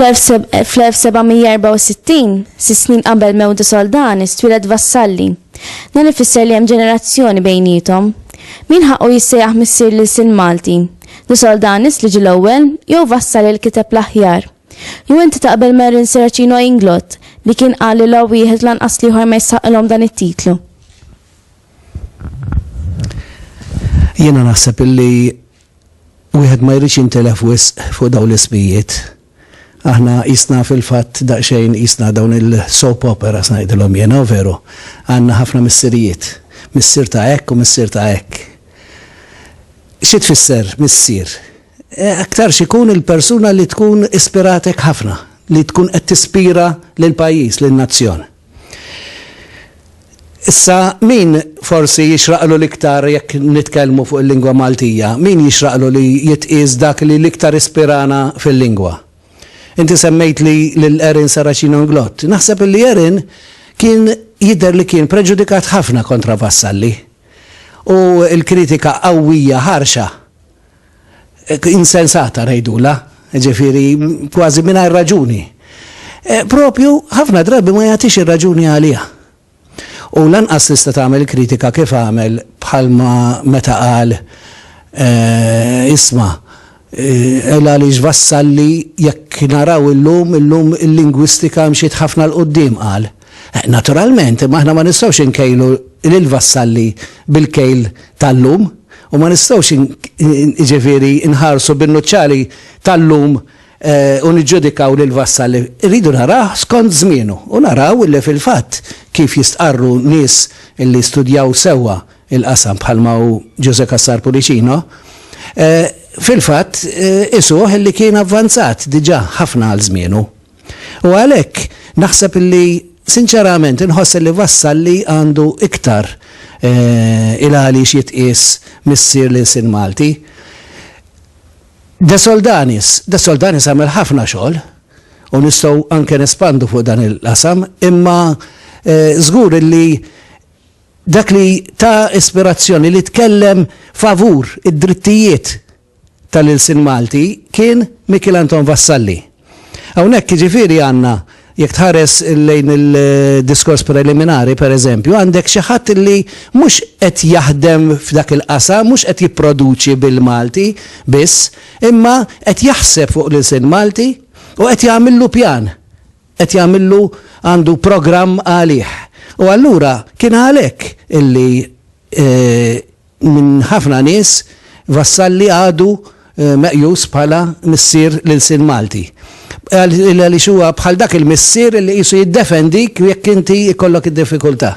Fl-1764, sisnin qabel mewdu soldani, stwilet vassalli. Dan ifisser li hemm ġenerazzjoni bejnietom. Min ħaqqu jissejjaħ missier lil sin Malti? Li soldanis li ġil ewwel jew vassal il kiteb l-aħjar? Jew inti taqbel ma' Erin Serracino Inglott li kien qal li la wieħed lanqas l-ieħor ma jistħaqqilhom dan it-titlu? Jiena naħseb illi wieħed ma jridx jintilef wisq fuq dawn l-ismijiet. Aħna jisna fil-fatt daqsxejn jisna dawn il-soap opera snajdilhom jiena veru. Għandna ħafna missirijiet, missier ta' hekk u missier ta' hekk. Xi tfisser missier? Aktarx ikun il-persuna li tkun ispiratek ħafna, li tkun qed tispira lill-pajjiż, lin-nazzjon. Issa, min forsi jixraqlu l-iktar jekk nitkellmu fuq il-lingwa Maltija, min jixraqlu li jitqies dak li l-iktar ispirana fil-lingwa? Inti semmejtli lil Erin Saracino Inglott. Naħseb illi Erin kien jidher li kien preġudikat ħafna kontra Vassalli u l-kritika qawwija ħarxa insensata ngħidulha, ġifieri kważi mingħajr raġuni. E, propju ħafna drabi ma jagħtix ir-raġuni għaliha. U lanqas tista' tagħmel kritika kif għamel bħalma meta qal e, isma' ela e, li ġvassalli jekk naraw illum illum il-lingwistika mxiet ħafna l-qoddim qal. Naturalment, imma aħna ma nistgħux inkejlu lil vassalli bil-kejl tal-lum u ma nistgħux ġifieri nħarsu bin-nuċċali tal-lum eh, u niġġudikaw lil vassalli. Irridu naraw skont żmienu u naraw li fil-fatt kif jistqarru nies li studjaw sewwa il-qasam bħalma u Ġuże Kassar Pulicino, eh, fil-fatt eh, isuh li kien avvanzat diġà ħafna għal żmienu. U għalhekk naħseb li sinċerament inħoss li Vassalli għandu iktar il-għaliex jitqies missier l-ilsien Malti. De Soldanis, De Soldanis għamel ħafna xogħol u nistgħu anke nespandu fuq dan il-qasam, imma żgur li dak li ta ispirazzjoni li tkellem favur id-drittijiet tal-ilsien Malti kien Mikiel Anton Vassalli. Hawnhekk jiġifieri għandna, jekk tħares lejn il-diskors preliminari per eżempju, għandek xi ħadd li mhux qed jaħdem f'dak il-qasam, mhux qed jipproduċi bil-Malti biss, imma qed jaħseb fuq l-ilsien Malti u qed jagħmillu pjan, qed jagħmillu għandu programm għalih. U allura kien għalhekk illi Minn ħafna nies, Vassalli għadu meqjus bħala missier l-ilsien Malti. Għaliex huwa bħal dak il-missier li qisu jiddefendik jekk inti jkollok id-diffikultà.